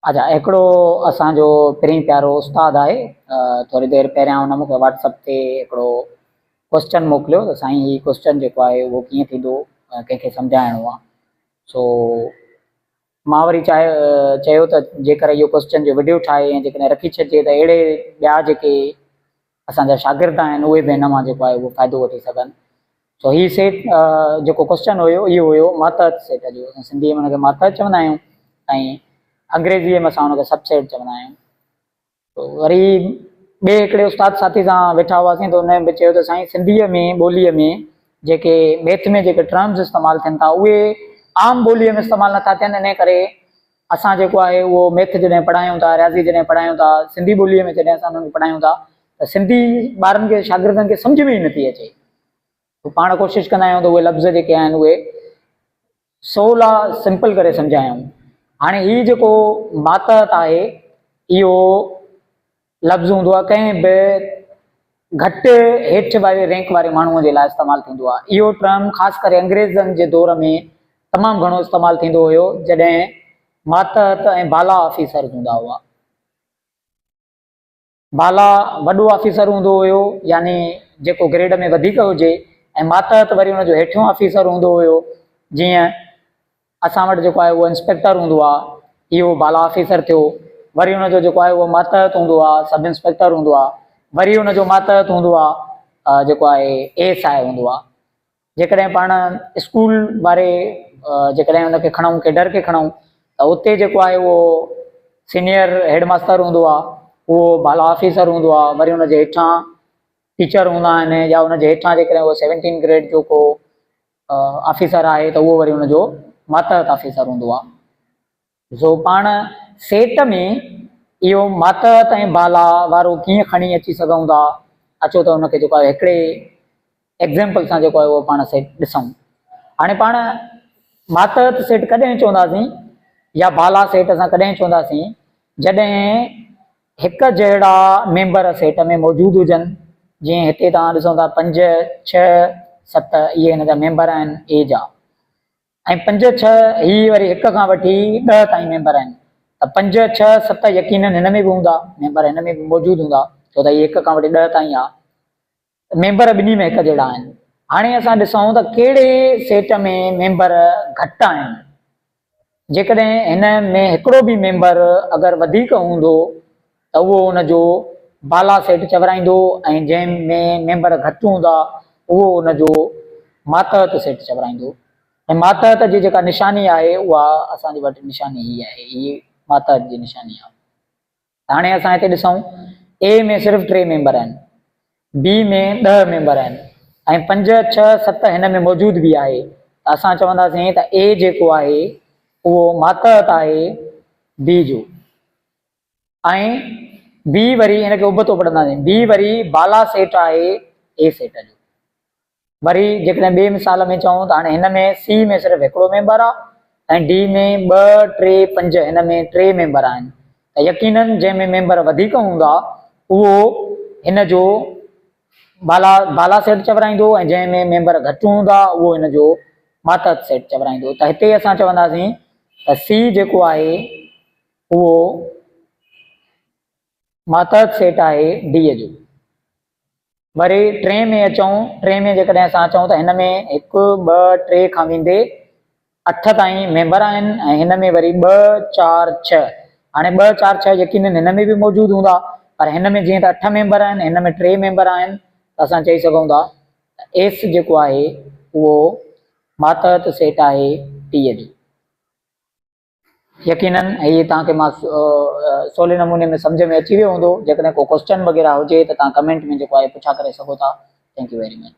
اچا هڪڙو اسان جو پرين پيارو استاد آهي ٿوري دير پهريان ان مونکي واٽس اپ تي هڪڙو ڪوسچن موڪليو ته سائين هي ڪوسچن جيڪو آهي اهو ڪيئن ٿيندو ڪنهن کي سمجهائڻو آهي سو مان وري چاهي چيو ته جيڪر اهو ڪوسچن جو وڊيو ٺاهي ۽ جيڪڏهن رکي ڇڏجي ته اهڙي ٻيا جيڪي اسان جا شاگرد آهن اهي به هن مان جيڪو آهي اهو فائدو وٺي سگهن سو هي سيٽ جيڪو ڪوسچن هيو اهو هيو ماتحت سيٽ جو اسان سنڌي ۾ ان کي ماتحت چوندا آهيون ۽ انگريزيء ۾ اسان ان کي سب سيٽ چوندا آهيون تو وري ٻئي هڪڙي استاد ساٿي سان ويٺا هئاسين تو هن به چيو ته سائين سنڌيء ۾ ٻوليء ۾ جيڪي ميٿ ۾ جيڪي ٽرمز استعمال ٿين ٿا اهي عام ٻوليء ۾ استعمال نٿا ٿين ان ڪري اسان جيڪو آهي اهو ميٿ جڏهن پڙهايون ٿا، رياضي جڏهن پڙهايون ٿا، سنڌي ٻوليء ۾ جڏهن اسان انهن کي پڙهايون ٿا ته سنڌي ٻارن کي شاگردن کي سمجهه ۾ ئي نٿي اچي. پاڻ ڪوشش ڪندا آهيون ته اهي لفظ جيڪي آهن اهي سولا سمپل ڪري سمجهايون. هاڻي هي جيڪو ماتحت آهي اهو لفظ هوندو آهي ڪنهن به گهٽ هيٺ واري رينڪ واري ماڻهوء جي لاء استعمال ٿيندو آهي. اهو ٽرم خاص ڪري انگريزن جي دور ۾ تمام گهڻو استعمال ٿيندو هيو جڏهن ماتحت ۽ بالا آفيسر هوندا هئا. بالا وڏو آفيسر هوندو هيو يعني جيڪو گريڊ ۾ وڌيڪ هجي ۽ ماتحت وري ان جو هيٺيون آفيسر هوندو هيو جيئن اسان وٽ جيڪو آهي اهو انسپيڪٽر هوندو آهي، هي اهو بالا آفيسر ٿيو، وري ان جو جيڪو آهي اهو ماتحت هوندو آهي، سب انسپيڪٽر هوندو آهي، وري ان جو ماتحت هوندو آهي جيڪو آهي اي ايس آء هوندو آهي. جيڪڏهن پاڻ اسڪول واري جيڪڏهن ان کي کڻون ڪيڊر کي کڻون ته اتي جيڪو آهي اهو سينيئر هيڊ ماستر هوندو آهي، اهو بالا آفيسر هوندو آهي، وري ان جي هيٺان ٽيچر هوندا آهن يا ان جي هيٺان جيڪڏهن اهو سيونٽين گريڊ جو ڪو آفيسر آهي ته اهو وري ان جو ماتحت آفيسر هوندو آهي. زو پاڻ سيٽ ۾ اهو ماتحت ۽ بالا وارو ڪيئن کڻي اچي سگهون ٿا، اچو ته ان کي جيڪو آهي هڪڙي ايگزيمپل سان جيڪو آهي اهو پاڻ سيٽ ڏسون. هاڻي پاڻ ماتحت سيٽ ڪڏهن چونداسين يا بالا سيٽ اسان ڪڏهن چونداسين جڏهن هڪ جهڙا ميمبر سيٽ ۾ موجود هجن، جيئن هتي توهان ڏسو ٿا پنج، ڇهه، ست اهي هن جا ميمبر آهن اي جا ۽ پنج، ڇهه هي وري هڪ کان وٺي ڏهه تائين ميمبر آهن ته پنج، ڇهه، ست يقينن هن ۾ به هوندا، ميمبر هن ۾ به موجود هوندا ڇو ته هي هڪ کان وٺي ڏهه تائين آ. ميمبر ٻنهي ۾ هڪ جهڙا آهن. هاڻي اسان ڏسون ته ڪهڙي سيٽ ۾ ميمبر گهٽ آهن. جيڪڏهن هن ۾ هڪڙو به ميمبر اگر وڌيڪ هوندو ته اهو ان جو بالا سيٽ چورائيندو ۽ جنهن ۾ ميمبر گهٽ هوندا اهو ان جو ماتحت سيٽ چورائيندو ۽ ماتحت جي جيڪا نشاني آهي اها اسان جي وٽ نشاني هي آهي هي ماتحت جي نشاني آهي. هاڻي اسان هتي ڏسون اي ۾ صرف ٽي ميمبر آهن، بي ۾ ڏهه ميمبر آهن ۽ پنج، ڇهه، ست هن ۾ موجود به آهي ته اسان چونداسين ته اي جيڪو آهي اهو ماتحت آهي بي جو ۽ بي وري ان کي ابتو پڙهنداسين بي وري بالا سيٽ آهي اي سيٽ جو. وري جيڪڏهن ٻئي مثال ۾ چئون ته هاڻي هن ۾ سي ۾ صرف هڪڙو ميمبر آهي ۽ ڊي ۾ ٻه، ٽي، پنج هن ۾ ٽي ميمبر آهن ته يقيناً جنهن ۾ ميمبر وڌيڪ هوندا اهو هن جو بالا بالا سيٽ چورائيندو ۽ جنهن ۾ ميمبر گهٽ هوندا اهو هن جو ماتحت سيٽ چورائيندو ته هتي اسان چونداسين ته سي جيڪو آهي اهو ماتحت سيٽ آهي ڊي جو. وري ٽين ۾ اچون، ٽين ۾ جيڪڏهن اسان اچون ته هن ۾ هڪ، ٻه، ٽي کان ويندي اٺ تائين ميمبر آهن ۽ هن ۾ وري ٻه، چار، ڇهه. هاڻي ٻه، چار، ڇهه يقينن هن ۾ به موجود هوندا پر هن ۾ جيئن ته اٺ ميمبر آهن، هن ۾ ٽي ميمبر آهن ته اسان چئي سگهون ٿا ته ايس جيڪو آهي اهو ماتحت سيٽ آهي ٽي جو. يقينن هي توهان کي مان سولي نموني ۾ سمجهه ۾ اچي ويو هوندو جيڪڏهن ڪو ڪوسچن وغيره هجي ته توهان ڪمينٽ ۾ جيڪو آهي پڇا ڪري سگهو ٿا ٿينڪ يو ويري مچ.